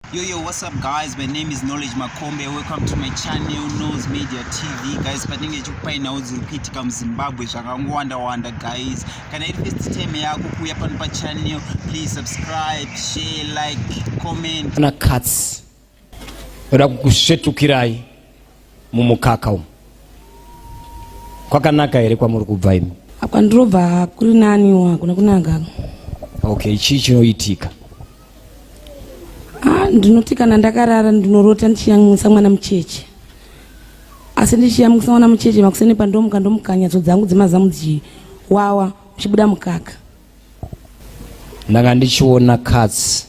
Yo, yo, what's up guys? My name is Knowledge Makombe. Welcome to my channel, Nose Media TV. Guys, patinenge chikupainawo dziri kuitika muZimbabwe zvakangowanda-wanda guys. Kana iri first time yako kuuya pano pachannel, please subscribe, share, like, comment. Kana katsi, kuda kukusvetukirai. mumukaka umu kwakanaka here kwamuri kubva imi kwandinobva kuri naniwo hakuna kunaka okay chii chinoitika ah, ndinoti kana ndakarara ndinorota ndichiyamwisa mwana mucheche asi ndichiyamwisa mwana mucheche makuseni pandomuka ndomukanya dzo dzangu dzemazamu dzichiwawa uchibuda mukaka ndanga ndichiona katsi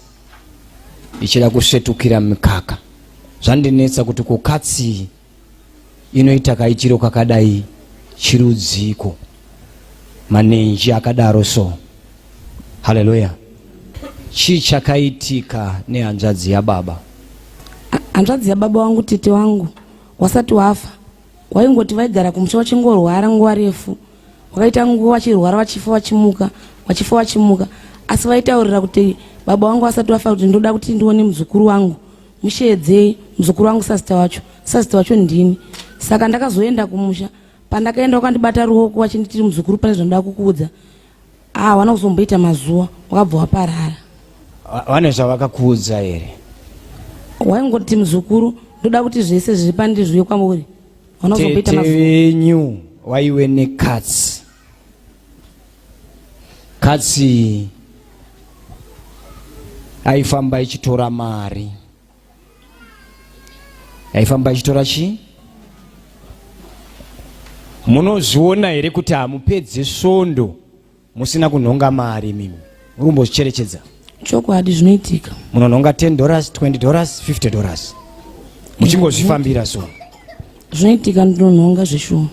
ichida kusvetukira mikaka zvandinetsa kuti ko katsi inoita kaichiro kakadai chirudziko manenji akadaro so haleluya chii chakaitika nehanzvadzi yababa hanzvadzi yababa wangu tete wangu wasati wafa waingoti vaigara kumusha vachingorwara nguva refu wakaita nguva vachirwara vachifa vachimuka vachifa vachimuka asi vaitaurira kuti baba wangu vasati vafa kuti ndoda kuti ndione muzukuru wangu musheedzei muzukuru wangu sasita wacho sasita wacho ndini saka ndakazoenda kumusha pandakaenda wakandibata ruoko vachinditiri muzukuru pane zvandoda kukuudza Ah, wana kuzomboita mazuva wakabva waparara. Vane zvavakakuudza here? Waingoti muzukuru ndoda kuti zvese zviri pandi zviuye kwamuri. Wana kuzomboita mazuva. Tete venyu waiwe nekatsi. Katsi aifamba ichitora mari. yaifamba ichitora chii munozviona here kuti hamupedze svondo musina kunhonga mari mimi muri kumbozvicherechedza chokwadi zvinoitika munonhonga 10 dollars 20 dollars 50 dollars muchingozvifambira so zvinoitika ndinonhonga zveshuwa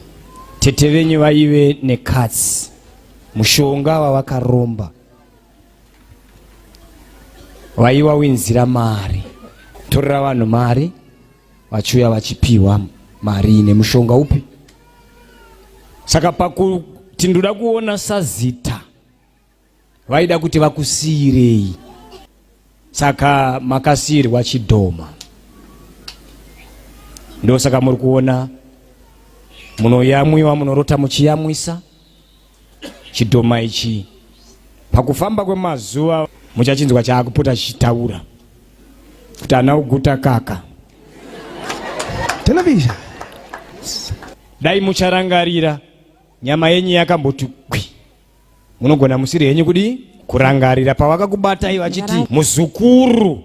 tete venyu vaive nekatsi mushonga wavakaromba waiwa winzira mari torera vanhu mari vachiuya vachipiwa mari nemushonga upi saka pakuti ndoda kuona sazita vaida kuti vakusiirei saka makasiirwa chidhoma ndosaka muri kuona munoyamwiwa munorota muchiyamwisa chidhoma ichi pakufamba kwemazuva muchachinzwa chaakupota chichitaura kuti ana uguta kaka television dai mucharangarira nyama yenyu yakamboti kwi munogona musiri henyu kudii kurangarira pavakakubatai vachiti muzukuru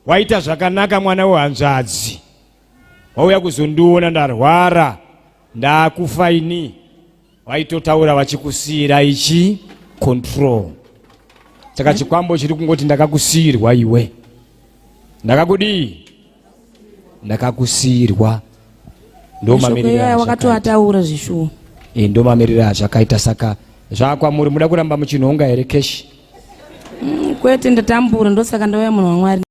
waita zvakanaka mwana wehanzvadzi wauya kuzondiona ndarwara ndakufa ini vaitotaura vachikusiira ichi control saka chikwambo chiri kungoti ndakakusiirwa iwe ndakakudii ndakakusiirwa ndomamirirawakatoataura zvishuwo e, ndomamirira zvakaita saka zvakwamuri muda kuramba muchinhonga here keshi mm, kwete ndatambura ndosaka ndauya munhu wamwari